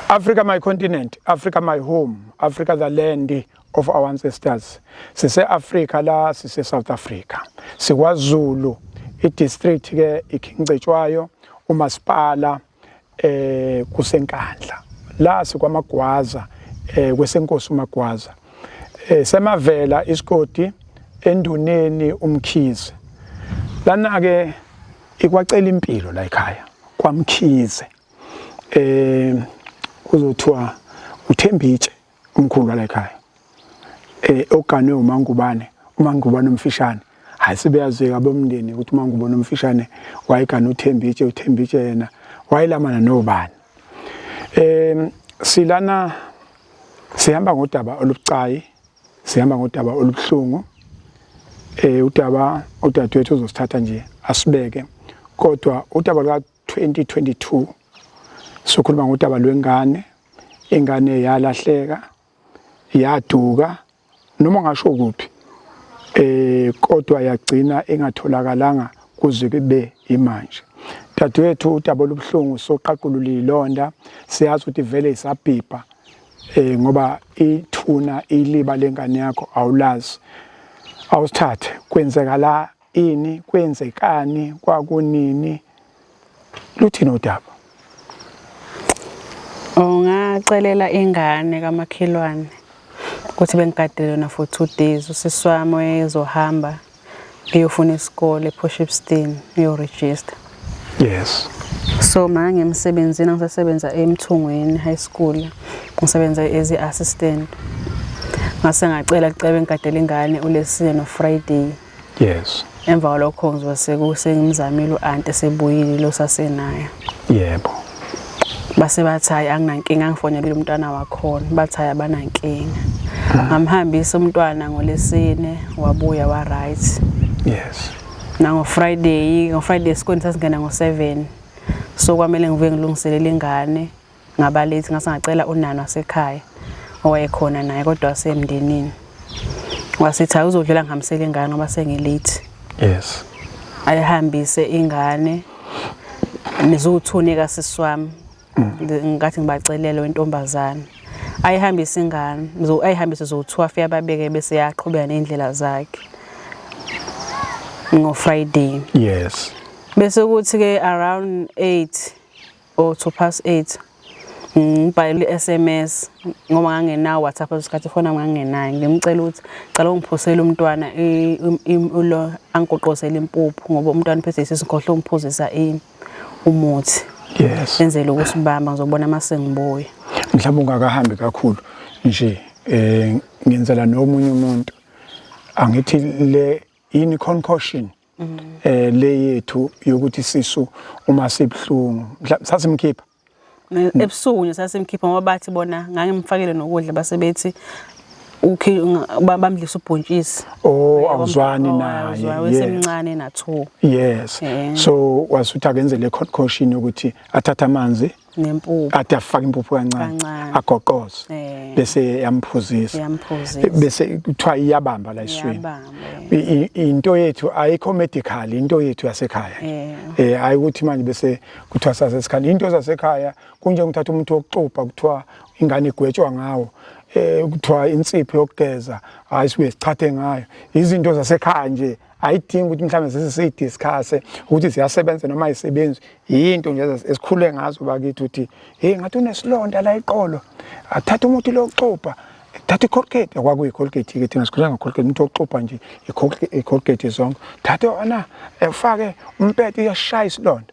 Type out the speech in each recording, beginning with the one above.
Africa my continent, Africa my home, Africa the land of our ancestors. Sise Africa la sise South Africa. SikwaZulu idistrict ke iKingcetshwayo umasipala eh kusenkandla. La sikwamagwaza eh kwesenkosi umagwaza. Eh semavela isigodi enduneni umkhize. Lana ke ikwacela impilo la ekhaya kwamkhize. eh kuzothiwa uThembitshe umkhulu wala ekhaya eh oganwe uMangubane uMangubane umfishane hayi sebeyazeka bomndeni ukuthi uMangubane umfishane wayegana uThembitshe uThembitshe yena wayelamana nobani eh silana sihamba ngodaba olubucayi sihamba ngodaba olubuhlungu eh udaba udadewethu uzosithatha nje asibeke kodwa udaba 2022 sokhuluma ngodaba lwengane ingane yalahleka yaduka noma ngasho kuphi eh kodwa yagcina ingatholakalanga kuze kube imanje dadewethu udaba olubuhlungu soqaqulula ilonda siyazi ukuthi vele isabhibha eh ngoba ithuna iliba lengane yakho awulazi awusithathe kwenzeka la ini kwenzekani kwakunini luthini udaba ungacelela ingane kamakhelwane ukuthi bengigadele yona for two days usisi wami wayezohamba eyofuna isikole ePoshipstein uyoregister yes so ma ngemsebenzini ngisasebenza emthungweni high school ngisebenza as i-assistant ngase ngacela kucebe ngigadele ingane ulesine nofriday yes emva kwalokho ngizobe sekusengimzamile u-anti esebuyile lo sasenaye yebo base bathi hayi anginankinga angifonelile umntwana wakhona bathi hayi abanankinga ah. ngamhambisa umntwana ngolesine wabuya wa right yes nango friday ngo friday esikoleni sasingena ngo 7 so kwamele ngivuke ngilungiselele ingane ngaba late ngase ngacela unana wasekhaya owayekhona naye kodwa wasemndenini wasithi awuzodlula ngihambisele ingane ngoba sengilate yes ayihambise ingane nizuthuneka sisi wami ngathi ngibacelele wentombazana ayihambise ingane ayihambise zowu-two afike ababeke bese yaqhubeka ney'ndlela zakhe ngo-friday yes bese kuthi-ke around eight o 2 past 8 ngibhayile i-sms ngoba ngangenawo whatsapp esikhathi fona ngangenayo ngimcela ukuthi cela ungiphusele umntwana ulo angigoqozele impuphu ngoba umntwana phethe isinkhohlo ungiphuzisa ini umuthi yes enzele ukusibamba ngizobona uma sengibuya mhlawumbe ungakahambi kakhulu nje eh ngenzela nomunye umuntu angithi le yini concoction mm. eh le yethu yokuthi sisu uma sibuhlungu sasimkhipha ebusuku nje sasimkhipha ngoba bathi bona ngangimfakele nokudla basebethi ukhe bamdlisa ubhontshisi oh awuzwani naye wesemncane na 2 yes eh. so wasuthi akenze le concoction ukuthi athathe amanzi nempuphu kade afaka impuphu kancane Kancane. agoqoze Eh. bese yamphuzisa Yamphuzisa. bese kuthiwa iyabamba la eswini Iyabamba, I- i- into yethu ayikho medical into yethu yasekhaya Eh. eh hayi ukuthi manje bese kuthiwa sasesekhaya into zasekhaya kunjengokuthatha umuntu wokuxubha kuthiwa ingane igwetshwa ngawo eh kuthiwa insipho yokugeza hayi sibuye sichathe ngayo izinto zasekhaya nje ayidingi ukuthi mhlawumbe zize siyidiscusse ukuthi ziyasebenza noma ayisebenzi yinto nje esikhule ngazo bakithi ukuthi hey ngathi unesilonda la iqolo athatha umuthi lokuxubha thatha icolgate kwakuyicolgate ke thina sikhulanga colgate umuntu oxubha nje icolgate zonke thatha ona efake umpete uyashaya isilonda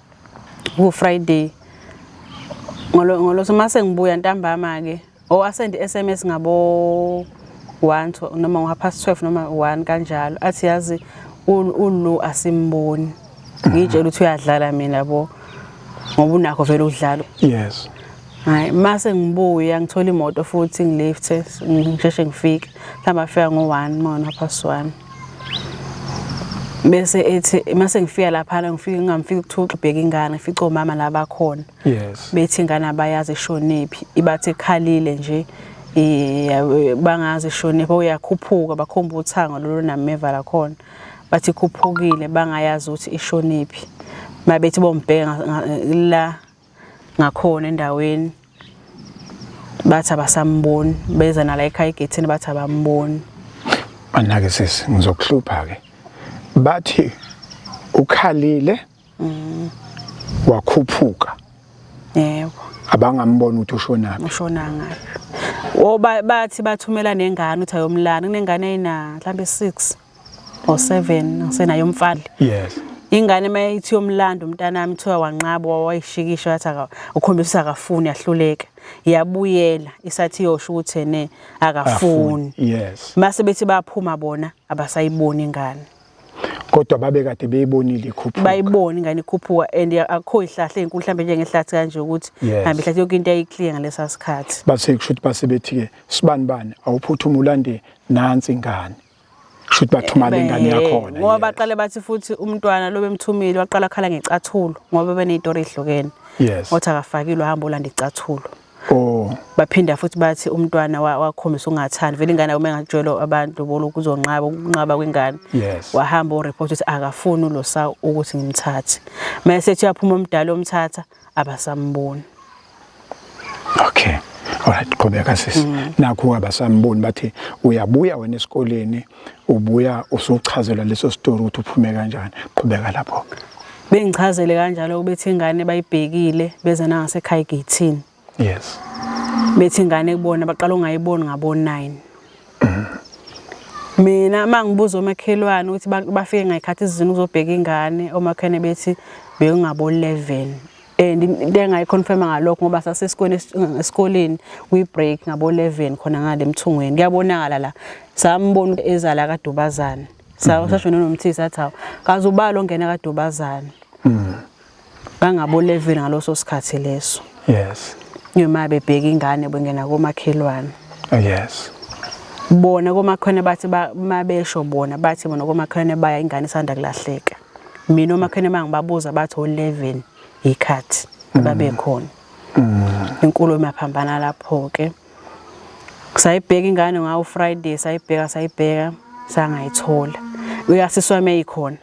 ku-friday ngolosoma sengibuya ntambama-ke o oh, asende i-sms ngabo one noma ngo-half past twelve noma one kanjalo athi yazi ulu asimboni ngiyitshela ukuthi uyadlala mina bo ngoba unakho vele udlalo yes Hayi mase ngibuya ngithola imoto futhi ngilifthe ngisheshe ngifike. Mhlawumbe afika ngo-1 mona past 1. Bese ethi mase ngifika lapha ngifike ngamfika ukuthuxa ubheka ingane ngifica omama la bakhona. Yes. Bethi ingane abayazi ishonephi ibathi ekhalile nje bangazi ishonephi uyakhuphuka bakhomba uthanga lolu nameva la khona. Bathi ikhuphukile bangayazi ukuthi ishonephi. Mabethi bombheka la ngakhona endaweni bathi abasamboni beza nala ekhaya egethini bathi abamboni anake sisi ngizokuhlupha ke bathi ukhalile mm. wakhuphuka yebo abangambona ukuthi ushonaphi ushona ngaphi o bathi bathumela nengane uthi ayomlana kunengane ayina mhlambe 6 or 7 ngisenayo umfadle yes ingane uma ithi yomlando umntanami kuthiwa wanqaba wayishikisha wathi ukhombisa akafuni ahluleka yabuyela isathi yosho ukuthi ene akafuni yes mase bethi baphuma bona abasayiboni ingane kodwa babe kade beyibonile ikhuphuka bayibona ingane ikhuphuka and akho ihlahle enkulu mhlambe njengehlathi kanje ukuthi hambe ihlathi yonke into ayiclear ngalesa sikhathi base kusho ukuthi base bethi ke sibani bani awuphuthume ulande nansi ingane shuthi bathumana ingane yakhona ngoba baqale bathi futhi umntwana lo bemthumile waqala khala ngecathulo ngoba beneyitori ehlukene yes wathi akafakile uhamba ulanda icathulo Oh. Baphinda futhi bathi umntwana wakhombisa ungathandi vele ingane uma engakujwela abantu bolo kuzonqaba ukunqaba kwengane. Yes. Wahamba o report ukuthi akafuni ulosa ukuthi ngimthathe. Mase ethi uyaphuma umdala omthatha abasamboni okay alright qhubeka sisi mm. nakho abasamboni bathi uyabuya wena esikoleni ubuya usuchazelwa leso story ukuthi uphume kanjani qhubeka lapho bengichazele kanjalo ubethi ingane bayibhekile beze nangasekhaya egithini yes bethi ingane kubona baqala ungayiboni ngabo 9 mina uma ngibuza omakhelwane ukuthi bafike ngayikhathi izizini ukuzobheka ingane omakhelwane bethi bekungabo-11 and into engayiconfirma ngalokho ngoba sasesikoleni esikoleni kwi-break ngabo-11 khona ngale mthungweni kuyabonakala la sambona ezala kadubazane sasho mhm. nonomthisi athi hawu kaze ubalo ongena kadubazane mhm. bangaboleveli ngaloso sikhathi leso yes noma bebheka ingane bengena komakhelwane oh, yes bona komakhona bathi mabesho bona bathi bona komakhona baya ingane isanda kulahleka mina omakhona mangibabuza bathi o11 ikhathi mm. babekhona mm. inkulumo yaphambana lapho ke sayibheka ingane ngawo Friday sayibheka sayibheka sangayithola uyasiswa meyikhona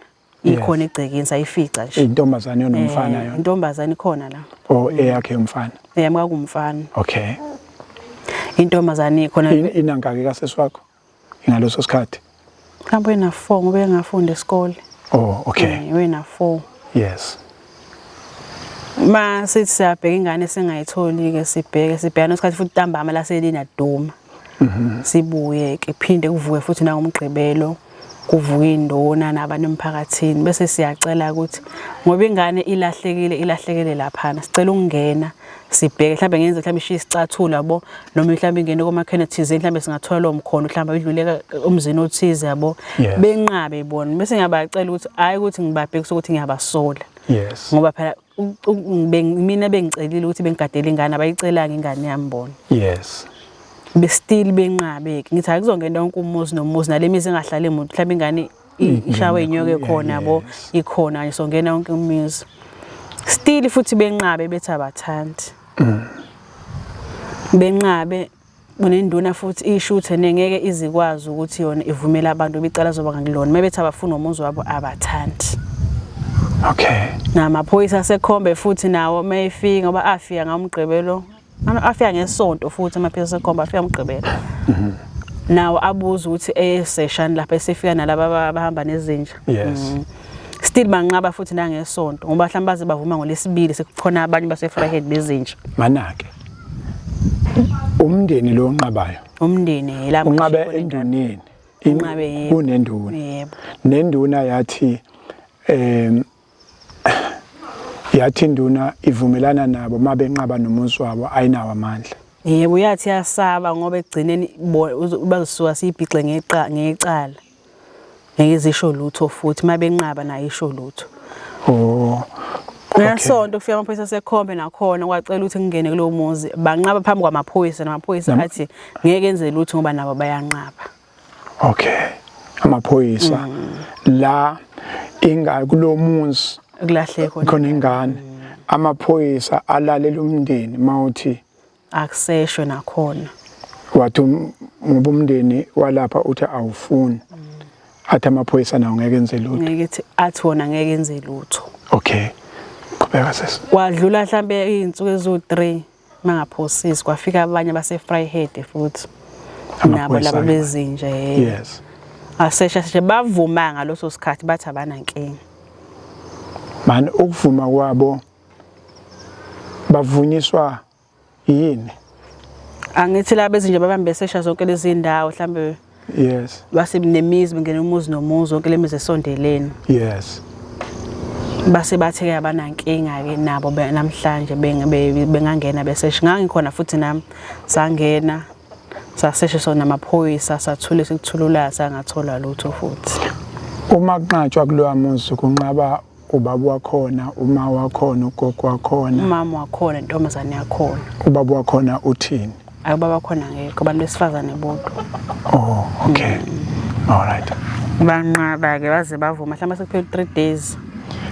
ikhona egcekeni sayifica nje intombazane yonomfana eh, yona intombazane ikhona la oh eyakhe umfana eyami kwakumfana okay intombazane ikhona inangaki kasesi wakho ingaloso sikhathi mhlawumbe wena 4 ngoba engafunda esikole oh okay eh, wena 4 yes Ma sithi siyabheka ingane singayitholi-ke sibheke sibhekana isikhathi futhi ntambama laselina duma mhm. sibuye-ke phinde kuvuke futhi nangomgqibelo kuvuka indona nabantu emphakathini bese siyacela ukuthi ngoba ingane ilahlekile ilahlekele laphana sicela ukungena sibheke mhlawumbe ngenze mhlawumbe ishiye isicathulo yabo noma mhlawumbe ingene komakhene thizeni mhlawumbe singathola lowo mkhono mhlawumbe idluleka umzini othize yabo benqabe bona bese ngiyabacela ukuthi hhayi ukuthi ngibabhekise ukuthi ngiyabasola yes ngoba phela mina bengicelile ukuthi bengigadele ingane abayicelanga ingane yami bona yes bestill benqabeke ngithi akuzongena wonke umuzi nomuzi nale mizi engahlali emuntu mhlawumbe ingane ishawe inyoke khona bo ikhona nje songena wonke umuzi still futhi benqabe bethi abathandi mm. benqabe kunenduna futhi ishuthe nengeke izikwazi ukuthi yona ivumela abantu bicala zoba ngakulona mebethi abafuna umuzi wabo abathandi okay namaphoyisa asekhombe futhi nawo mayefika ngoba afika ngamgqibelo Ama afika ngesonto futhi amaphilisi ekhomba afika umgqibelo. Mhm. Nawo abuza ukuthi eseshani lapha esifika nalaba abahamba nezinja. Yes. Mm. still banqaba futhi nangesonto ngoba mhlawumbe baze bavuma ngolesibili sekukhona abanye basefryhead bezinja manake umndeni lo onqabayo umndeni yela unqabe enduneni inqabe kunenduna yebo nenduna yathi em yathi induna ivumelana nabo uma benqaba nomuzi wabo ayinawo amandla yebo yathi yasaba ngoba ekugcineni bazisuka siyibhixe ngecala ngeke zisho lutho futhi uma benqaba nayo isho lutho oh ngesonto kufika amaphoyisa sekhombe nakhona kwacela ukuthi ngingene kulowo muzi banqaba phambi kwamaphoyisa namaphoyisa athi ngeke enze lutho ngoba nabo bayanqaba okay amaphoyisa mm. la inga kulomuzi kulahle khona ingane mm. amaphoyisa alalela umndeni mawuthi akuseshwe nakhona wathi um, ngoba umndeni walapha uthi awufuni mm. athi amaphoyisa nawo ngeke enze lutho ngeke ethi athi wona ngeke enze lutho okay qhubeka sesi kwadlula mhlambe izinsuku ezu3 mangaphosisi kwafika abanye base-fryhead futhi nabo laba bezinje yes asesha seshe bavuma ngaloso sikhathi bathi abanankinga man ukuvuma kwabo bavunyiswa yini angithi laba bezinje babambe sesha zonke lezi ndawo mhlambe yes base nemizi bengena umuzi nomuzi wonke lemizi esondeleni yes base bathe ke abanankinga ke nabo namhlanje bengangena beseshe ngangikhona futhi nami sangena saseshe sona amaphoyisa sathule sikuthulula sangathola lutho futhi uma kunqatshwa kulowa muzi kunqaba ubaba wakhona uma wakhona ugogo wakhona umama wakhona intombazane yakhona ubaba wakhona uthini ayi ubaba wakhona ngekho abantu besifazane bodwa oh okay mm. all right banqaba-ke baze bavuma mhlawumbe sekuphela u-three days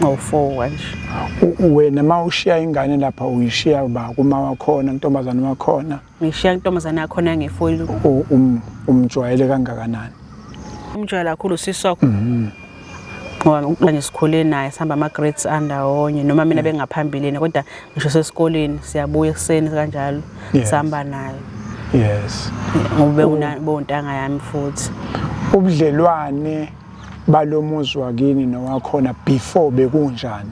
ngowu-four kanje wena uma ushiya ingane lapha uyishiya ba kuma wakhona kuntombazane wakhona ngishiya intombazane yakhona ngefoyili um, umjwayele kangakanani umjwayela kakhulu sisi wakho mhm. ngoba ukuba nje sikhule naye sihamba ama-grades andawonye noma mina mm. bengaphambilini kodwa ngisho sesikoleni siyabuya ekuseni kanjalo sihamba naye yes ngobe unabontanga yami futhi ubudlelwane balomuzi wakini nowakhona before bekunjani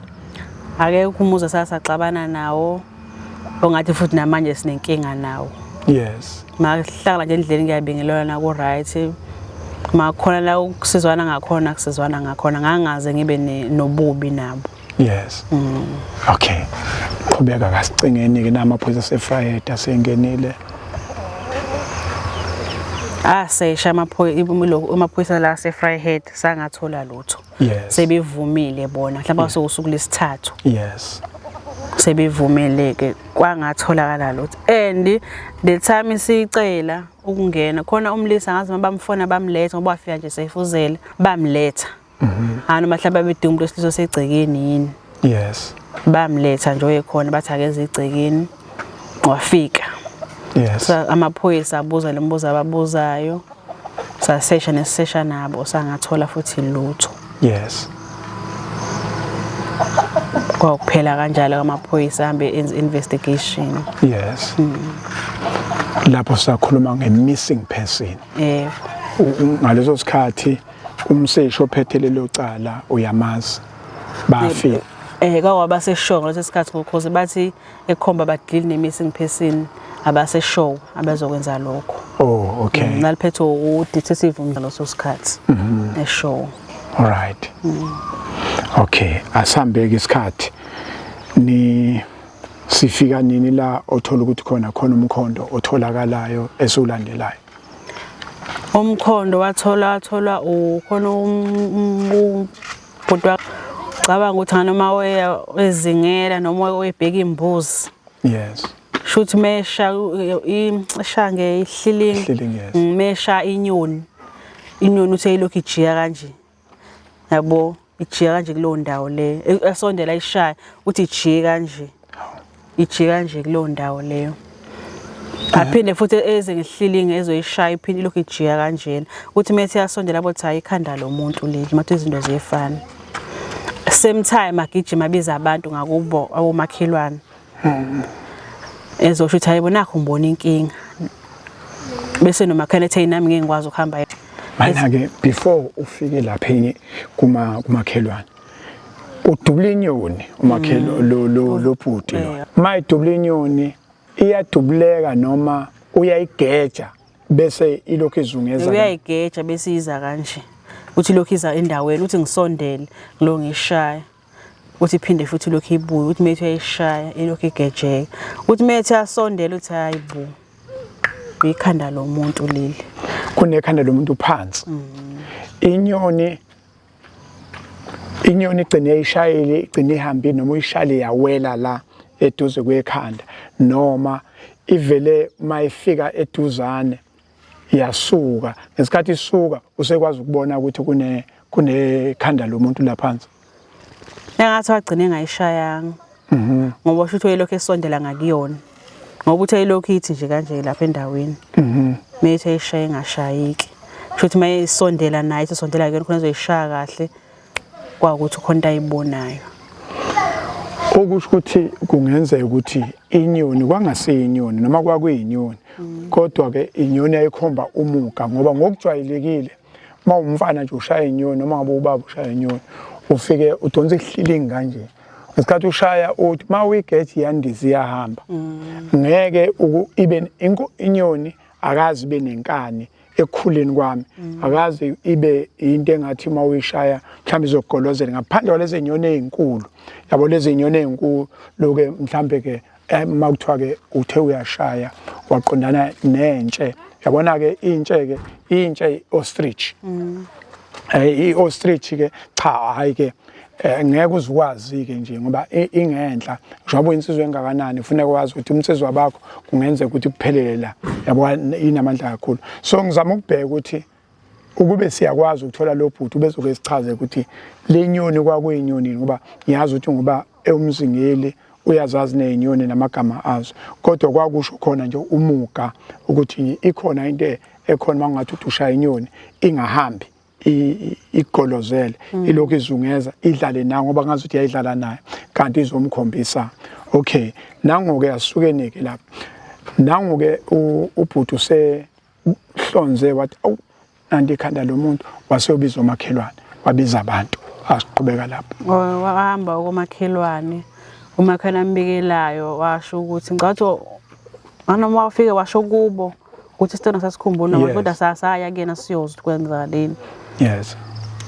akekho umuzi sasaxabana nawo ongathi futhi namanje sinenkinga nawo yes mahlala nje endleleni ngiyabingelelwa na ku right makhona la ukusizwana ngakhona kusizwana ngakhona ngangaze ngibe nobubi nabo yes mm. okay qhubeka kasicingeni ke namaphoyisa sefrayeda sengenile asesha ah, amaphoyisa la sefryhead sangathola lutho yes. sebevumile bona mhlawumbe yes. sokusuku lesithathu yes sebevumile ke kwangatholakala lutho and the time sicela ukungena khona umlisa ngazi mabamfona bamletha ngoba wafika nje seyifuzela bamletha mm -hmm. anoma mhlawumbe bedinga umuntu wesilisa osegcekeni yini yes bamletha nje oyekhona bathi akeze igcekeni wafika yes so amaphoyisa abuza lembuzo ababuzayo sasesha nesesha nabo sangathola futhi lutho yes kwakuphela kanjalo kamaphoyisa ahambe enze investigation yes mm. lapho sakhuluma nge-missing person yebo ngaleso sikhathi umseshi ophethe lelo cala uyamazi bafika eh kawaba seshow ngaleso sikhathi ngokhoze bathi ekhomba badili nemissing person abase show abazokwenza lokho oh okay mm, naliphethe u detective umdlalo sosikhathi mhm. e show all right mm. okay asambeke isikhathi ni sifika nini la othola ukuthi khona khona umkhondo otholakalayo esiwulandelayo umkhondo wathola wathola ukhona ubhuti cabanga ukuthi nganoma weya ezingela noma webheka imbuzi yes shuthi mesha ishange ihlilingi mesha inyoni inyoni uthe ilokhu ijika kanje yabo ijika kanje kuleyo ndawo leyo e, esondela ishaya ukuthi ijike kanje ijike kanje kuleyo ndawo leyo aphinde futhi eze ngehlilinge ezoyishaya iphinde lokhu ijika kanjena ukuthi methi yasondela bothi hayi ikhanda lomuntu leli mathi izinto ziyefana same time agijima biza abantu ngakubo awomakhelwane hmm. ezosho ukuthi hayibo nakho ngibona inkinga bese nomakhane ethe nami ngeke ngikwazi ukuhamba manje-ke before ufike lapha kuma kumakhelwane udubula inyoni umakhelwane hmm. lo bhuti lo ma idubula inyoni iyadubuleka noma uyayigeja bese ilokhu izungeza uyayigeja bese iza kanje uthi lokhu iza endaweni uthi ngisondele lo ngishaya uthi iphinde futhi ilokhu ibuye uthi methi uyayishaya ilokhu igejeka uthi methi asondela uthi hayi bu ikhanda lomuntu leli kunekhanda lomuntu phansi mm. inyoni inyoni igcine ishayile igcine ihambile noma uyishayile yawela la eduze kwekhanda noma ivele mayifika eduzane yasuka ngesikhathi isuka usekwazi ukubona ukuthi kune kunekhanda lomuntu laphansi engathi wagcine ngayishayanga mhm ngoba usho ukuthi uyelokhu esondela ngakuyona ngoba uthe ilokhu ithi nje kanje lapha endaweni mhm methe ishaye ngashayiki kusho ukuthi mayisondela naye isondela kuyona khona izoyishaya kahle kwawukuthi khona into ayibonayo okusho ukuthi kungenzeka ukuthi inyoni kwangasiyinyoni noma kwakuyinyoni mm. kodwa ke inyoni yayikhomba umuga ngoba ngokujwayelekile uma umfana nje ushaya inyoni noma ngabe ubaba ushaya inyoni ufike udonsa ihlilingi kanje ngesikhathi ushaya uthi uma uyigeji yandiza iyahamba mm. ngeke ibe inyoni akazi ibe nenkani ekukhuleni kwami mm. akaze ibe into engathi uma uyishaya mhlawumbe izogolozela ngaphandle kwalezi nyoni ezinkulu yabo lezi nyoni ezinkulu loke mhlawumbe ke eh, uma kuthiwa ke uthe uyashaya waqondana nentshe yabona ke intshe ke intshe ostrich mm. eh i ostrich ke cha hayi ke eh ngeke uzikwazi-ke nje ngoba ingenhla njengoba uyinsizwa engakanani funeka wazi ukuthi umsizwa bakho kungenzeka ukuthi kuphelele la yabo inamandla kakhulu so ngizama ukubheka ukuthi ukube siyakwazi ukuthola lo bhuti ubezoke sichaze ukuthi le nyoni kwakuyinyoni ngoba ngiyazi ukuthi ngoba ewumzingeli uyazazi nezinyoni namagama azo kodwa kwakusho khona nje umuga ukuthi ikhona into ekhona uma kungathi uthi ushaya inyoni ingahambi igolozele mm. ilokhu izungeza idlale nayo ngoba ngazi ukuthi yayidlala nayo kanti izomkhombisa okay nangoke asukeneke lapha nangoke ubhuti use hlonze wathi awu nanti ikhanda lomuntu waseyobiza omakhelwane wabiza abantu asiqhubeka lapho oh, wahamba komakhelwane umakhelwane ambikelayo washo ukuthi ngicabanga Nganoma wafike washo kubo ukuthi isitena sasikhumbula abantu kodwa sasaya kuyena siyozwa kwenza leni. Yes.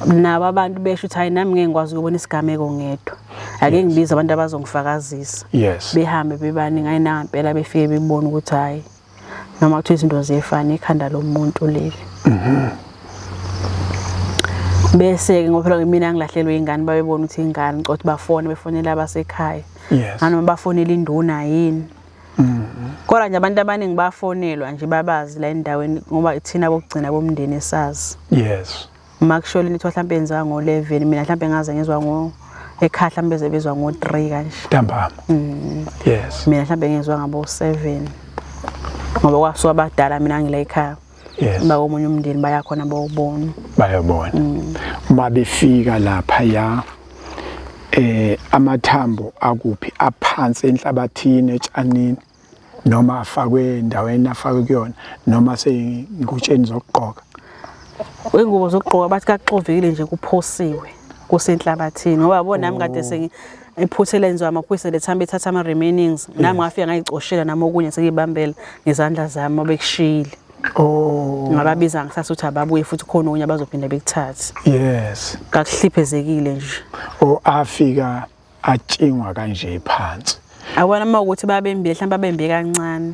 Nabo abantu besho ukuthi hayi nami ngeke ngikwazi ukubona isigameko ngedwa. Ake ngibize abantu abazongifakazisa. Yes. Behambe bebani ngayinangempela befike bebona ukuthi hayi noma kuthiwa izinto ziyefana ikhanda lomuntu leli. Mhm. bese ke ngoba phela mina ngilahlelwe ingane babebona ukuthi ingane ngicothe bafone befonela abasekhaya yes nganoma bafonela induna yini kodwa nje abantu abaningi bafonelwa nje babazi la endaweni ngoba ithina bokugcina bomndeni esazi yes uma kusholo into mhlawumbe yenziwa ngo-11 mina mhlawumbe ngaze ngizwa ngo ekhaya mhlawumbe beze bezwa ngo-3 kanje ntambama mm. yes mina mhlawumbe ngizwa ngabo-7 ngoba kwasuka abadala mina ngila ekhaya yes. uba omunye umndeni bayakhona bawubona bayabona mm. uma befika lapha ya eh amathambo akuphi aphansi enhlabathini etshanini noma afakwe endaweni afakwe kuyona noma seyingutsheni zokugqoka wengubo zokugqoka bathi kaxovekile nje kuphosiwe kusenhlabathini ngoba bona nami kade oh. sengi iphutha elenziwa amaphoyisa lethamba ethatha ama remainings nami ngafika ngayicoshela nami okunye sekibambela ngezandla zami obekushiyile Oh. Ngababiza ngisase ukuthi ababuye futhi khona okunye abazophinda bekuthathe. Yes. Kakuhliphezekile nje. Oh afika atshingwa kanje phansi. Awona uma ukuthi babembile mhlawumbe babembe kancane.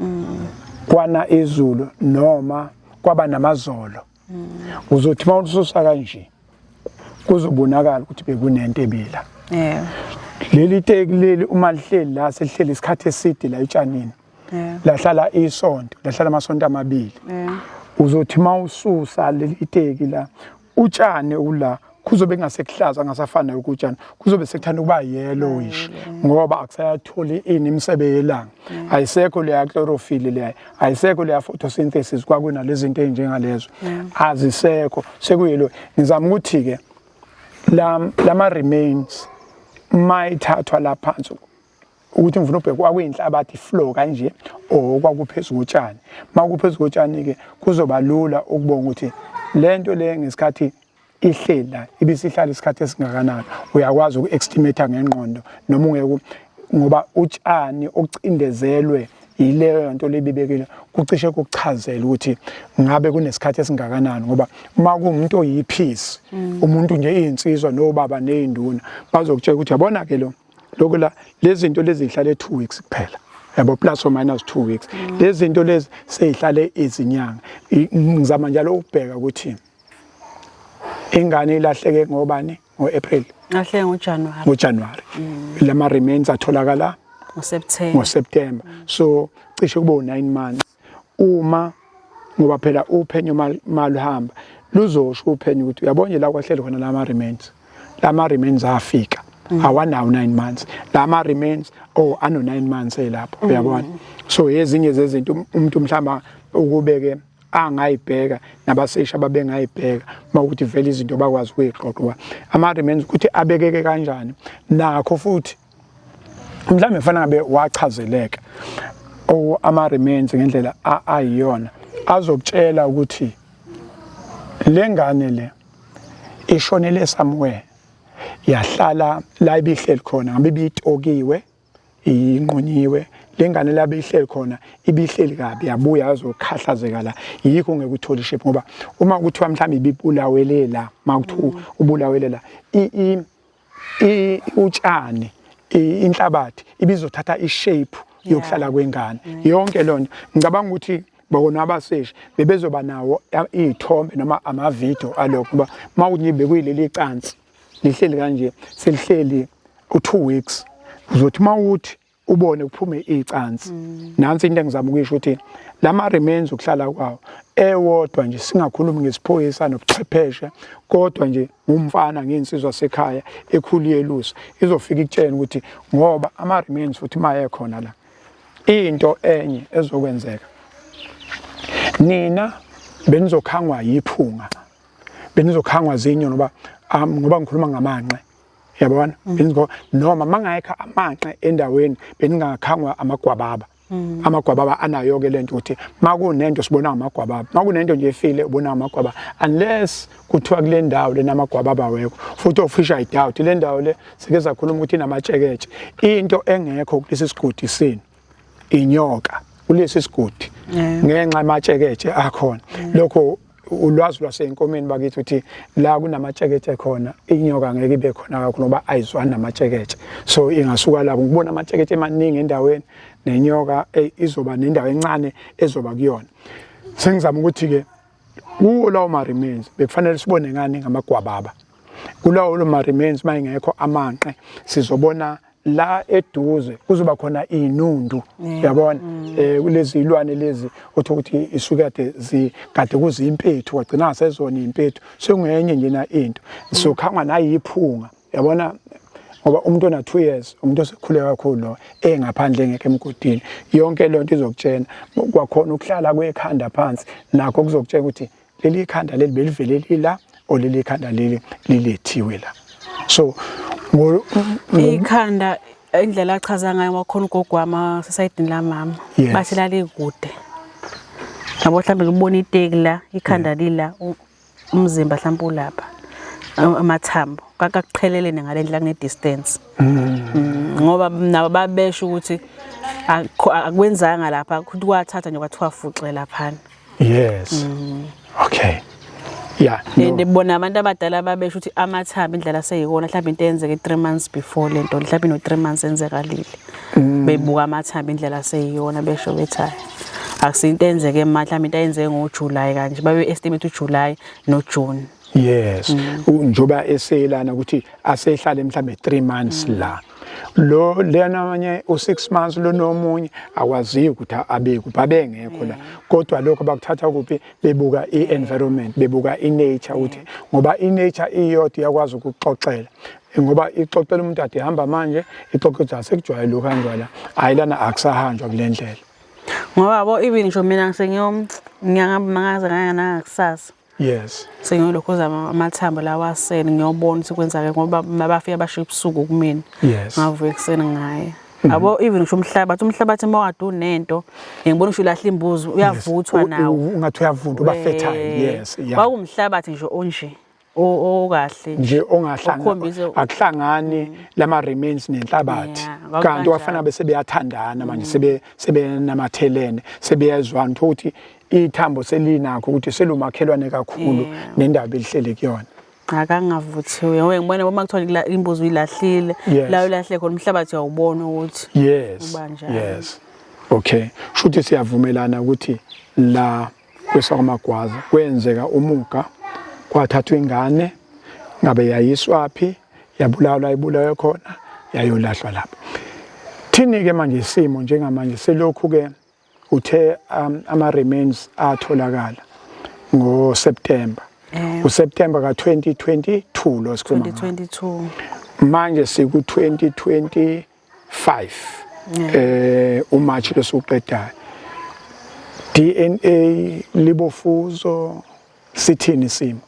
mm. kwana izulu noma kwaba namazolo mm. uzothi uma ususa kanje kuzobonakala ukuthi bekunento ebila yeah. leli teki leli uma lihleli la selihleli isikhathi eside la etshanini yeah. lahlala isonto lahlala amasonto amabili yeah. uzothi uma ususa leli teki la utshani ula kuzobe kungasekuhlaza ngasafana nokutshani kuzobe sekuthanda ukuba yellowish ngoba akusayatholi ini imisebe yelanga ayisekho leya chlorophyll leya ayisekho leya photosynthesis kwakuna lezinto ezinjengalezo azisekho sekuyelo ngizama ukuthi ke lama remains mayithathwa laphansi ukuthi ngifuna ubheke kwakuyinhlabathi flow kanje or kwakuphezulu kotshani uma kuphezulu kotshani-ke kuzoba lula ukubonga ukuthi le nto le ngesikhathi ihleli la ibisihlala isikhathi esingakanani uyakwazi uku-estimator ngengqondo noma ungeke ngoba utshani okucindezelwe yileyo nto lebibekile kucishe kuchazela ukuthi ngabe kunesikhathi esingakanani ngoba uma kuwumuntu oyiphisi mm. umuntu nje iyinsizwa nobaba nezinduna bazokutshela ukuthi yabona ke lo lokho la lezi zinto lezi zihlale 2 weeks kuphela yabo plus or minus 2 weeks mm. lezi zinto lezi sezihlale izinyanga ngizama njalo ukubheka ukuthi ingane ilahleke ngobani ngo-April lahleke ngoJanuary ngoJanuary mm. lama remains atholakala ngoSeptember ngoSeptember so cishe kube u9 months uma ngoba phela uphenyo maluhamba luzosho uphenyo ukuthi uyabona nje la kwahleli khona lama remains lama remains afika mm. awanawo 9 months lama remains oh ano 9 months elapho mm. uyabona so ezinye zezinto um, umuntu mhlamba ukubeke angayibheka nabasesha babengayibheka mawukuthi vele izinto bakwazi ukuyixoxa ama remains ukuthi abekeke kanjani nakho futhi mhlawumbe kufanele ngabe wachazeleka or ama-remains ngendlela ayiyona azokutshela ukuthi le ngane le ishonele somewhere yahlala la ibihleli khona ngabe ibitokiwe inqunyiwe le ngane la beyihleli khona ibihleli kabi yabuya yazokhahlazeka la yikho ngeke uthole shape ngoba uma kuthiwa mhlawumbe ibibulawelela uma kuthiwa ubulawelela utshani inhlabathi ibizothatha ishape yokuhlala kwengane yonke lona ngicabanga ukuthi bona abaseshi bebezoba nawo iy'thombe noma amavidiyo alokho kuba uma ukuthi nje bekuyileli cansi lihleli kanje selihleli u-two weeks uzothi uma uthi ubone kuphume icansi mm. nansi into engizama ukuyisho ukuthi lama remains ukuhlala kwawo ewodwa nje singakhulumi ngesiphoyisa nobuchwepheshe kodwa nje ngumfana ngensizwa sekhaya ekhuliye lusa izofika ikutshela ukuthi ngoba ama remains futhi maye khona la into enye ezokwenzeka nina benizokhangwa yiphunga benizokhangwa zinyo ngoba um, ngoba ngikhuluma ngamanqe yabona mm. benizgo noma mangayikha amanqe endaweni beningakhangwa amagwababa mm. amagwababa anayo ke lento ukuthi makunento sibona amagwababa makunento nje efile ubona amagwababa unless kuthiwa kule ndawo lena amagwababa wekho futhi ofisha idoubt le ndawo le sike sakhuluma ukuthi inamatsheketshe into engekho kulesi sigodi sini inyoka kulesi sigodi ngenxa amatsheketshe akhona lokho ulwazi lwasenkomeni bakithi uthi la kunamatsheketshe khona inyoka ngeke ibe khona kakhulu ngoba ayizwani namatsheketshe so ingasuka lapho ngibona amatsheketshe emaningi endaweni nenyoka eh, izoba nendawo encane ezoba kuyona sengizama ukuthi-ke kuwo lawo ma-remains bekufanele sibone ngani ngamagwababa kulawo lo ma-remains uma ingekho amanqe sizobona la eduze kuzoba khona inundu yabona mm. eh kulezi ilwane lezi otho ukuthi isukade zigade kuzimpethu wagcina sezona impethu sengenye nje na into mm. so khangwa nayi iphunga yabona ngoba umuntu ona 2 years umuntu osekhule kakhulu lo engaphandle ngeke emgodini yonke lento izokutshena kwakhona ukuhlala kwekhanda phansi nakho kuzokutshela ukuthi leli khanda leli belivele lila or leli khanda leli lilethiwe la so ikhanda indlela achaza ngayo wakhona ugogo wami sesayidini la mama bathi lalikude ngabo mhlawumbe ngibona iteki la ikhanda lila umzimba mhlawumbe ulapha amathambo kakuqhelelene ngale ndlela kune distance mm. mm, ngoba nabo babesho ukuthi akwenzanga lapha ukuthi kwathatha nje kwathiwa fuxe laphana yes mm. okay yeah no. and bona abantu abadala babesho ukuthi amathambo indlela seyikona mhlawumbe into eyenzeke 3 months before lento mhlawumbe no 3 months enzekalile mm. bebuka amathambo indlela seyiyona besho bethi akusinto enzeke manje mhlawumbe into ayenzeke ngoJuly kanje babe estimate uJuly noJune yes mm. njoba eseyelana ukuthi asehlale mhlambe 3 months mm. la lo lena abanye u6 months lo nomunye akwaziyo ukuthi abe kuphi abengekho la kodwa lokho bakuthatha kuphi bebuka i-environment bebuka i-nature ukuthi ngoba i-nature iyodwa iyakwazi ukuxoxela ngoba ixoxela umuntu ade hamba manje ixoxe ukuthi asekujwayele ukuhanjwa la hhayi lana akusahanjwa kule ndlela ngoba bo even ngisho mina ngisengiyomnyangamangaze kanganangakusasa yes sengiyolokhuza amathambo lawa aseni ngiyobona ukuthi kwenzake ngoba mabafika basho ebusuku kumina yes ngavuka ekuseni ngaye mhm. yabo even ngisho umhlabathi umhlabathi uma wadu nento ngibona ngisho ulahla imbuzi uyavuthwa nawo ungathi uyavunda uba fertile yes yeah wawumhlabathi nje onje okahle nje ongahlangani akuhlangani mm. lama remains nenhlabathi kanti wafana bese beyathandana manje mm. sebe sebenamathelene sebeyezwana ukuthi ithambo selinakho ukuthi selumakhelwane kakhulu nendaba elihlele kuyona akangavuthiwe we ngibona uma kuthiwa imbuzi uyilahlile la ulahle khona umhlabathi uyawubona ukuthi yes yes okay shuthi siyavumelana ukuthi la kwesakwamagwaza kwenzeka umuga kwathathwa ingane ngabe yayiswaphi yabulawa ibulawe khona yayolahlwa lapho thini-ke manje isimo njengamanje selokhu-ke Uthe um, ama remains atholakala ngo September. Eh. U September ka 2022 lo sikhuluma. 2022. Manje siku 2025. Eh. eh u March lo suqedayo. DNA libofuzo sithini simo?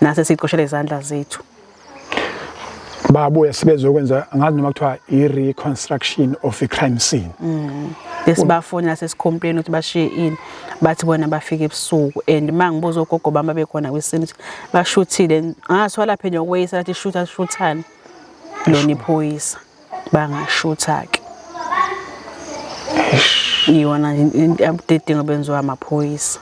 nase siqoshele izandla zethu babuye sebezokwenza ngazi noma kuthiwa i-reconstruction of i-crime scene mm. esibafonela sesikhompeni ukuthi bashiye ini bathi bona bafike ebusuku and uma ngibuza ogogo bami abekhona kwisini ukuthi bashuthile ngaso laphe nje ukweyisa lathi shutha shuthane lona iphoyisa bangashutha-ke iyona into abudedingo benziwa amaphoyisa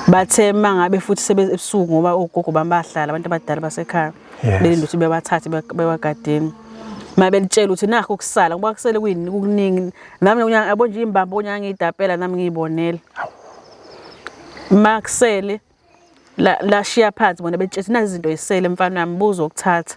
bathe mangabe futhi sebeze ebusuku ngoba ogogo bami bahlala abantu abadala basekhaya Yes. belinde ukuthi bebathathe be- bewagadeni uma belitshela ukuthi nakho ukusala ngoba kusele kuyini kukuningi nami unyanga yabo nje imbambo unyanga ngiyidapela nami ngiyibonela uma kusele la- lashiya phansi bona belitshela ukuthi nazi izinto yisele mfana wami buza ukuthatha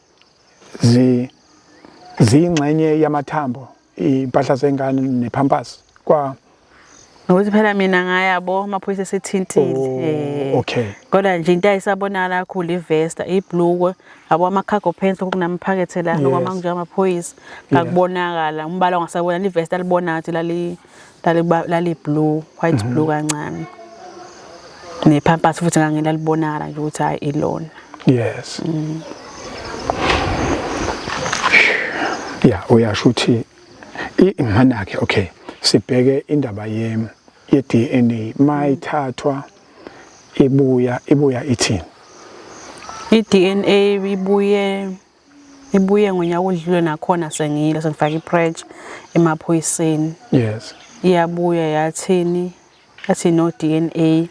zi ziyingxenye yamathambo impahla zengane nephampers kwa Ngokuthi phela mina ngayabo amaphoyisa esethintile. Oh, eh, okay. Kodwa nje into ayisabonakala kakhulu ivesta, iblukwe, abo ama cargo pants kunamaphakethe la ngoba mangijama amaphoyisa ngakubonakala umbala ongasabona ivesta libona ngathi lali lali blue white blue mhm. kancane nepampers futhi ngangilalibonakala nje ukuthi hayi ilona yes mm. ya uyasho ukuthi imanake okay sibheke indaba yem ye DNA mayithathwa ibuya ibuya ithini i DNA ibuye ibuye ngonyaka odlule nakhona sengiyile sengifaka ipressure emaphoyiseni yes iyabuya yathini athi no DNA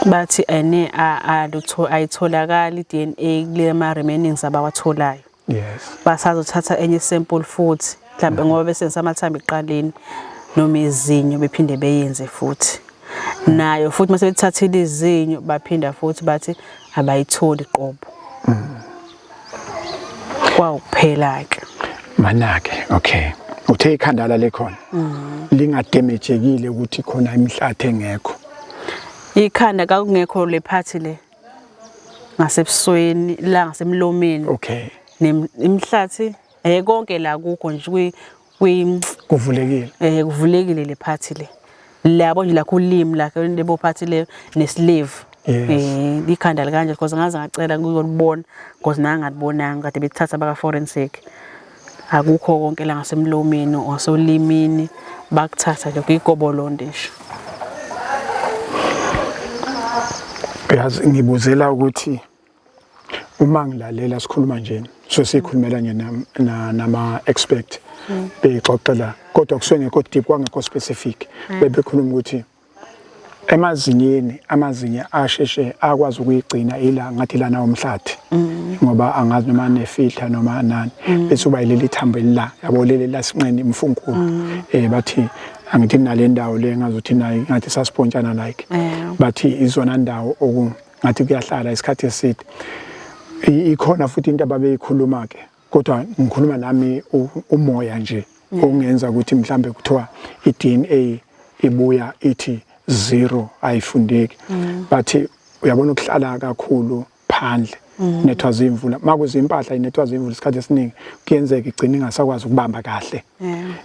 bathi ene alutho ayitholakali DNA kule ma remainings abawatholayo yes basazothatha enye sample futhi mhlawumbe ngoba besebenzisa amathambo ekuqaleni noma izinyo bephinde beyenze futhi nayo futhi uma sebethathile izinyo baphinda futhi bathi abayitholi qobo kwawukuphela-ke manake okay uthe ikhanda lale khona mm. lingademejekile ukuthi khona imihlathi engekho ikhanda kakungekho le phathi le ngasebusweni la ngasemlomeni okay imihlathi Eh konke la kukho nje kwi kwi kuvulekile. Eh kuvulekile le party le. Labo nje la kulimi la lebo party le ne slave. Yes. Eh ikhanda likanje because ngaze ngacela kuyolibona because nanga ngalibonanga kade bethatha baka forensic. Akukho konke la ngasemlomeni osolimini bakuthatha nje kuyigobolonde nje. Uyazi ngibuzela ukuthi uma ngilalela sikhuluma nje so sikhulumela nje nama expect mm. bexoxela kodwa kusuke ngekho deep kwangekho specific mm. bebekhuluma ukuthi emazinyeni amazinya asheshe akwazi ukuyigcina ila ngathi lana umhlathi mm. ngoba angazi noma nefilter noma nani bese uba leli thambo elila yabo leli lasinqeni imfunkulu eh bathi angithi nalendawo le ngazothi nayi ngathi saspontshana like bathi izona ndawo oku ngathi kuyahlala isikhathi eside ikhona futhi into ababeyikhuluma ke kodwa ngikhuluma nami umoya nje mm. ongenza ukuthi mhlambe kuthiwa iDNA ibuya ithi zero ayifundeki mm. but uyabona ukuhlala kakhulu phandle mm. nethwa zimvula makuze impahla inethwa zimvula isikhathi esiningi kuyenzeka igcina ingasakwazi ukubamba kahle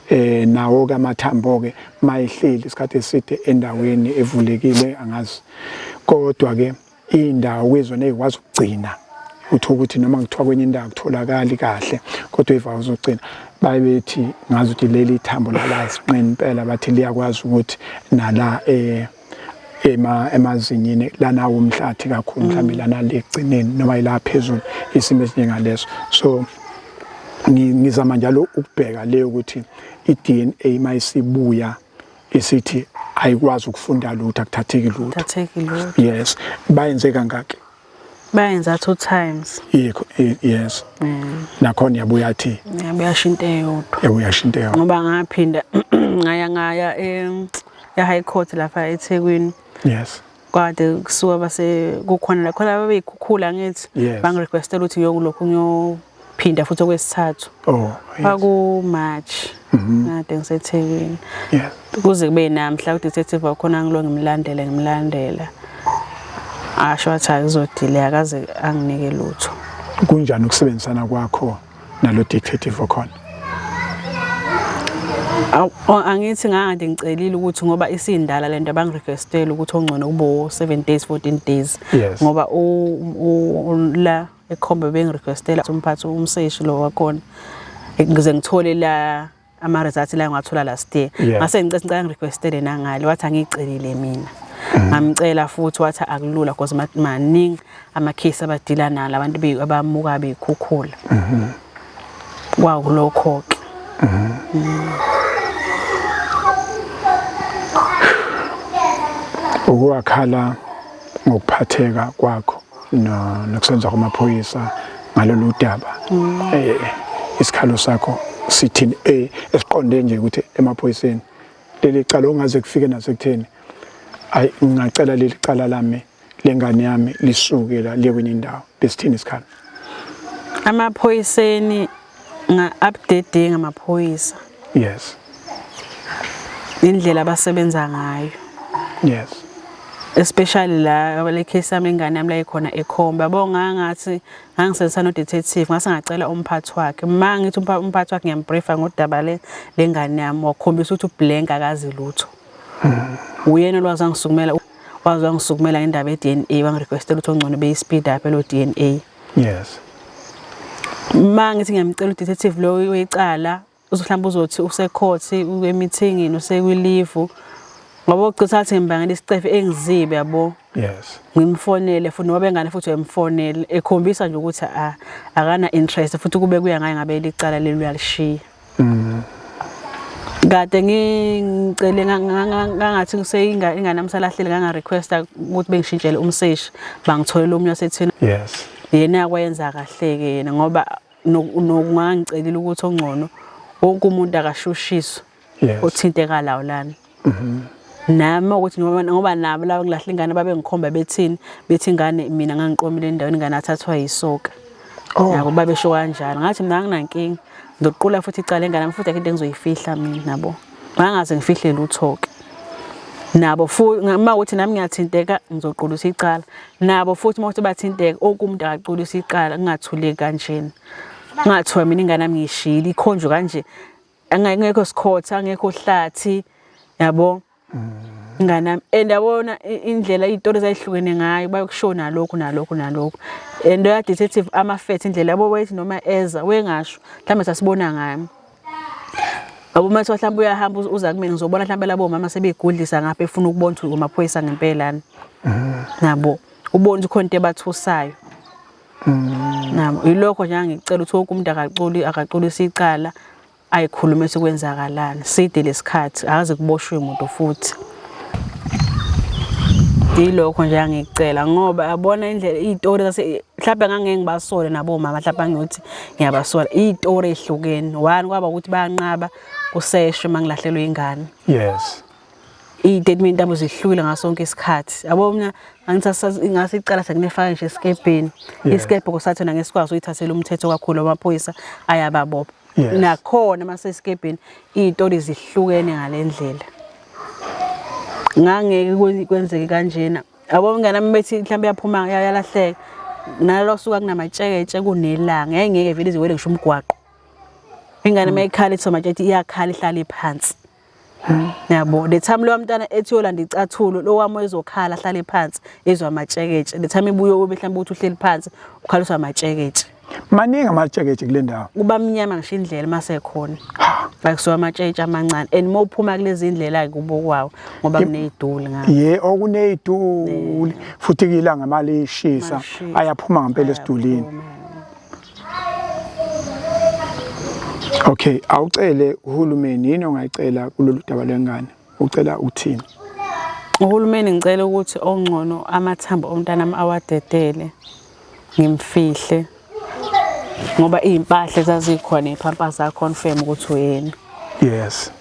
eh nawo ke amathambo ke mayihleli isikhathi eside endaweni evulekile angazi kodwa ke indawo kwezona ezikwazi ukugcina uthola ukuthi noma kuthiwa kwenye indawo kutholakali kahle kodwa ivawu zogcina baye bethi ngazi ukuthi leli thambo lala isinqeni impela bathi liyakwazi ukuthi nala eh ema emazinyini lana womhlathi kakhulu mhlawumbe mm. lana legcineni noma ila phezulu isimo esinjengaleso so ngizama njalo ukubheka leyo ukuthi i-DNA mayisibuya isithi ayikwazi ukufunda lutho akuthatheki lutho thatheki lutho yes bayenze kangaki bayenza two times yikho i- yes Mm. nakhona yabuya athi yabuyasho into eyodwa ebuyasho into yawo ngoba ngaphinda ngaya ngaya em, e-high court lapha ethekwini yes kade kusuka base kukhona la khona babeyikhukhula ngithi Yes. bangirequestela ukuthi ngiyokulokhu ngiyophinda futhi okwesithathu Oh, yes. kwaku March kade ngiseThekwini Yes. kuze kube namhla udetective wakhona ngilo ngimlandele ngimlandela asho athi akuzodile akaze anginike lutho Kunjani ukusebenzisana kwakho nalo dictative okhona angithi ngangade ngicelile ukuthi ngoba isindala lento abangirequestela ukuthi ongcono kube 7 days 14 days ngoba la ekhombe bengirequestela umphathi umseshi lo wakhona ngize ngithole la ama results la ngiwathola last year ngase ngicela ngicela ngirequestele nangale wathi angicelile mina mm. ngamcela futhi wathi akulula because maningi ama case abadila nalo abantu be abamuka bekhukhula mhm. kwawu kulokho ke mhm. mm. ukuwakhala ngokuphatheka kwakho nokusenza kwamaphoyisa ngalolu daba mm. eh, isikhalo sakho sithini eh, esiqonde nje ukuthi emaphoyiseni leli cala ongaze kufike nasekutheni ayi ngingacela leli cala lami lengane yami lisuke la liye kwenye indawo lesithini isikhala amaphoyiseni Nga-update ngamaphoyisa. Yes. Indlela abasebenza ngayo. Yes. especially la le case yami ingane yami la ikhona ekhomba yabo ngangathi ngangisebenzisa no detective ngase ngacela umphathi wakhe uma ngithi umphathi wakhe ngiyambriefa ngodaba le lengane yami wakhombisa ukuthi ublank akazi lutho hmm. uyena olwazi angisukumela wazi wangisukumela ngendaba ye-DNA wangirequestela ukuthi ongcono beyi-speed up elo-DNA yes uma ngithi ngiyamcela udetective lo wecala uzohlamba uzothi usekhothi emithingini usekwilivu ngoba ucisa athi ngibangela isicefe engizibe yabo yes ngimfonele futhi noba bengane futhi uyamfonela ekhombisa nje ukuthi akana interest futhi kube kuya ngaye ngabe licala leli uyalishiya mm. kade ngicele ngangathi ngiseyinga ingane amsalahlele nganga request ukuthi bengishintshele umseshi bangitholela omunye wasethini yes yena yakwenza kahle ke yena ngoba nokungangicelile ukuthi ongcono wonke umuntu akashushiswe othinteka lawo lana mhm. nami ukuthi ngoba nabo laba kulahla ingane babengikhomba bethini bethi ingane mina ngangiqomile endaweni ingane athathwa yisoka oh. yabo babesho kanjalo ngathi mina anginankinga ngizoqula futhi icala engane yami futhi akho into engizoyifihla mina nabo bangaze ngifihle lutho-ke nabo futhi uma ukuthi nami ngiyathinteka ngizoqulisa icala nabo futhi uma ukuthi bathinteka okumuntu akaqulisa icala kungathuleki kanjena ngathiwa mina ingane yami ngiyishiyile ikhonjwe kanje angekho sikhotha angekho hlathi yabo nganami and yabona i- indlela iy'tori zayihlukene ngayo bayokusho nalokhu nalokhu nalokhu and oya-detective amafethe indlela yabo wayethi noma eza wengasho mhlawumbe sasibona ngami yabo uma kuthiwa mhlawumbe uyahamba uz- uza kumina ngizobona mhlawumbe labo mama sebeyigudlisa ngapha efuna ukubona ukuthi kumaphoyisa ngempelani nabo ubona ukuthi khona into ebathusayo nabo mm. yilokho nje angicela ukuthi wonke umuntu akaculi akaculisa icala ayikhulume sekwenzakalani side lesikhathi akaze kuboshwe umuntu futhi yilokho nje angicela ngoba yabona indlela izitori zase mhlawumbe ngangeke ngibasole nabo mama mhlawumbe ngiyothi ngiyabasola izitori ezihlukene one kwaba ukuthi bayanqaba kuseshwe mangilahlelwe ingane yes iy'tatimenti abo zihlukile ngaso sonke isikhathi yabo mina ngase icala sekunefaka nje esikebheni isikebhe kosathona ngesikwazi uyithathela umthetho kakhulu amaphoyisa ayababopha nakhona uma sesikebheni iy'tori zihlukene ngale ndlela ngangeke kwenzeke kanjena yabo mngane ami bethi mhlawumbe yaphuma yalahleka nalo suka kunamatsheketshe kunelanga yayingeke vele iziwele ngisho umgwaqo ingane uma ikhala ithi somatshetshe iyakhala ihlale phansi Hmm, yabo the time lowa mntana ethi yolanda icathulo lo wami ezokhala ahlale phansi ezwa amatsheketshe the time ibuye ube mhlawumbe uthi uhleli phansi ukhaliswa amatsheketshe maningi amatsheketshe kule ndawo kuba mnyama ngisho indlela masekhona bakusuka amatshetshe amancane and uma uphuma kulezi ndlela kubo kwawo ngoba kuneyiduli ngayo ye okuneyiduli futhi kuyilanga mali ishisa ayaphuma ngempela esidulini Okay, awucele uhulumeni yini ongayicela kulolu daba lwengane? Ucela uthini? Uhulumeni ngicela ukuthi ongcono amathambo omntanami awadedele ngimfihle ngoba izimpahla zazikhona iphampa zakho confirm ukuthi uyena. Yes.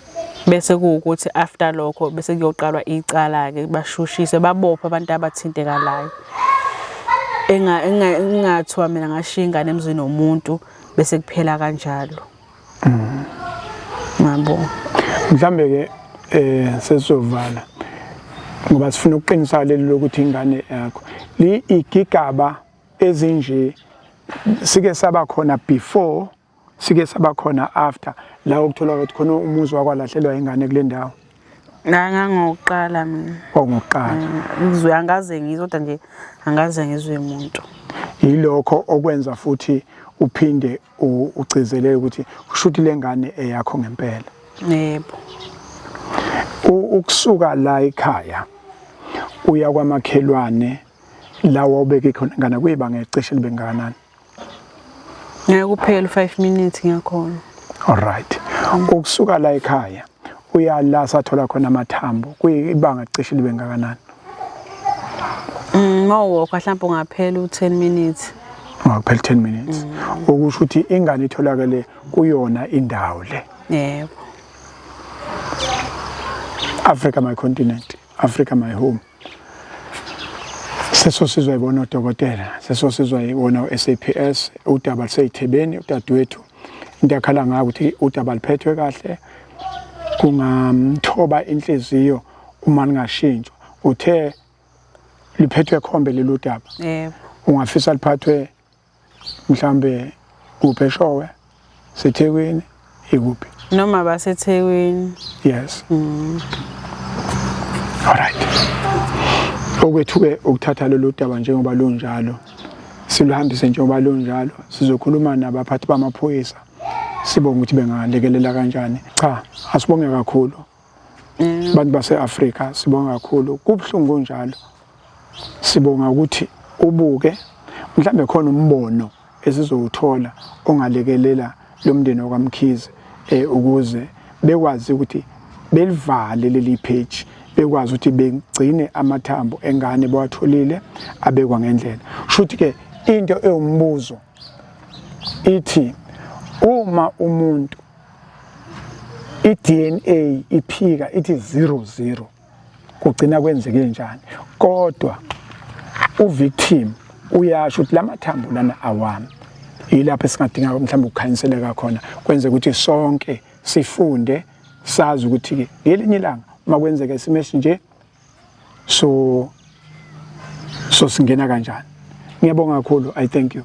bese kuwukuthi after lokho bese kuyoqalwa icala-ke bashushiswe babophe abantu abathintekalayo engathiwa mina ngashiya ingane emzini womuntu bese kuphela kanjalo mm. ngabo mhlambe-ke um sesizovala ngoba sifuna ukuqinisa leli lokuthi ingane yakho igigaba ezinje sike saba khona before sike saba khona after la ukuthola ukuthi khona umuzi wakwalahlelwa ingane kule ndawo ngangangokuqala mina ongokuqala mm, ngizwe angaze ngizwe kodwa nje angaze ngizwe umuntu yilokho okwenza futhi uphinde ugcizelele ukuthi kushuthi lengane eyakho ngempela yebo ukusuka la ekhaya uya kwamakhelwane lawa ubeke khona ngana kuyibanga ecishe libengakanani ngeke kuphele 5 minutes ngiyakhona alright ukusuka la ekhaya uya la sathola khona amathambo kuyibanga cishe libe ngakanani mm, mawokha mhlawumbe ungaphela u10 minutes ungaphela 10 minutes mm. okusho ukuthi ingane itholakele kuyona indawo le yebo Africa my continent Africa my home sesosizwa yibona odokotela sesosizwa yibona u-SAPS udaba luseyithebeni udadewethu into akhala ngayo ukuthi udaba luphethwe kahle kungamthoba inhliziyo uma lingashintshwa uthe liphethwe khombe lelo daba yebo ungafisa liphathwe mhlambe kuphi eshowe sethekwini ikuphi noma basethekwini yes mm. all right okwethuke ukuthatha lolu daba njengoba lunjalo siluhambise njengoba lunjalo sizokhuluma nabaphathi bamaphoyisa sibonga ukuthi bengalekelela kanjani cha asibonge kakhulu abantu base-afrika sibonga kakhulu kubuhlungu njalo sibonga ukuthi ubuke mhlawumbe khona umbono esizowuthola ongalekelela lo mndeni wakwamkhize um ukuze bekwazi ukuthi belivale leli page bekwazi ukuthi begcine amathambo engane bawatholile abekwa ngendlela shuthi ke into ewumbuzo ithi uma umuntu i-DNA iphika ithi 00 kugcina kwenzeke njani kodwa uvictim uyasho ukuthi la mathambo lana awami yilapho esingadinga mhlawumbe ukukhanyiseleka khona kwenze ukuthi sonke sifunde sazi ukuthi-ke ngelinye ilanga uma kwenzeka isimo esinje so so singena kanjani ngiyabonga kakhulu i thank you